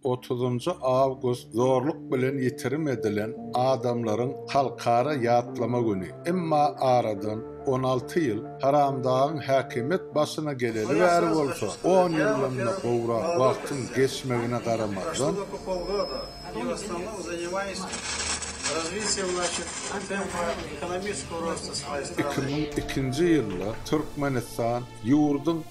Otuzynjy awgust zorluk bilen ýitirim edilen adamlaryň halkara ýatlama güni. Emma aradan on alty ýyl, haramdagyň häkimiýet başyna geleli bäri bolsa, on ýyldan-da gowrak wagtyň geçmegine garamazdan, iki müň ikinji ýylda Türkmenistan ýurduň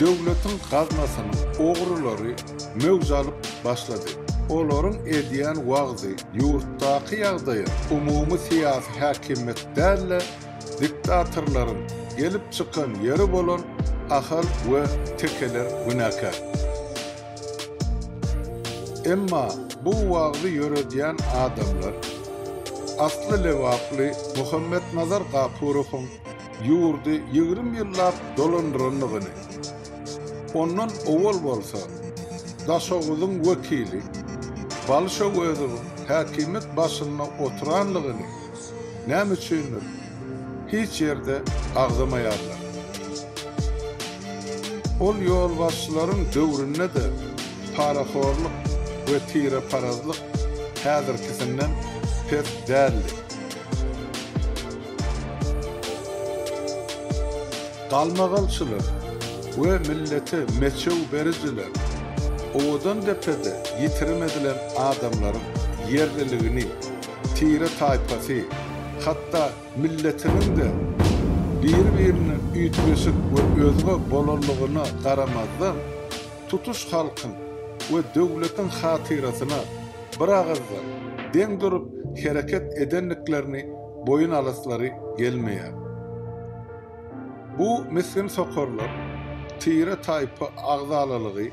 Döwletiň gaznasynyň ogrulary möwç alyp başlady. Olaryň edýän wagzy ýurtdaky ýagdaýa umumy syýasy häkimiýet däl-de, diktatorlaryň gelip çykan ýeri bolan Ahal we Tekeler günäkär. Emma bu wagzy ýöredýän adamlar asly lebaply Muhammetnazar Gapurowyň ýurdy ýigrimi ýyllap dolandyrandygyny, ondan owal bolsa Daşoguzyň wekili Balyş Öwezowyň häkimiýet başynda oturandygyny, Näme üçindir, hiç ýerde agzamaýarlar. Ol ýolbaşçylaryň döwründe-de parahorlyk we tireparazlyk häzirkisinden pes däldi. Galmagalçylar we millete meçew berijiler Owadandepede ýitirim edilen adamlaryň ýerliligini, tire-taýpasy, hatda milletiniň-de biri-birine üýtgeşik we özge bolanlygyna garamazdan, tutuş halkyň we döwletiň hatyrasyna bir agyzdan, deň durup hereket edendiklerini boýun alaslary gelmeýär. Bu misgin sokarlar tire-taýpa agzalalygy,